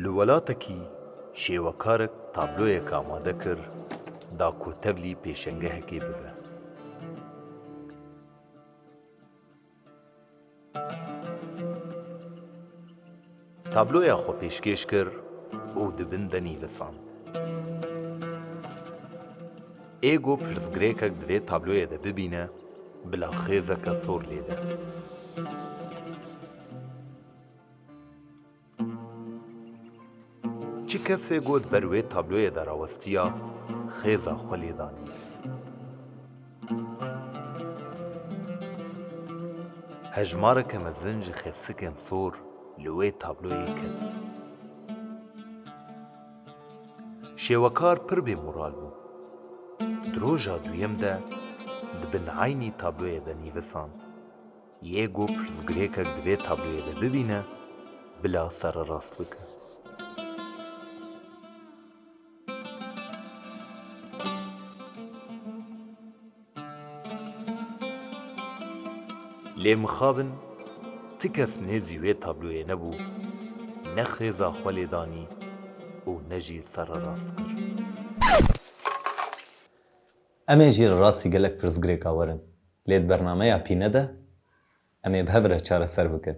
Li welatekî şêwekarik tabloyek amade kir da ku tevlî pêşengehekê bibe. Tabloya xwe pêşkêş kir û di bin de nivîsand. Ê got pirsgirêkek di vê tabloyê de bibîne bila xêzeke sor lêde. Çi kesê got ber wê tabloyê de rawestiya xêza xwe lê danî. Hejmareke mezin ji xefsikên sor li wê tabloyê ket. Şêwekar pir bê moral bû. Di roja duyem de di bin eynî tabloyê de nîvisand. Yê ku pirsgirêkek di vê tabloyê de bibîne, bila sererast bike. Lê mixabin ti kes nêzî wê tabloyê nebû, ne xêza xwe lê danî û ne jî sererast kir. Em ê jî li rastî gelek pirsgirêka werin, lê di bernameya pîne de em ê bi hev re çareser bikin.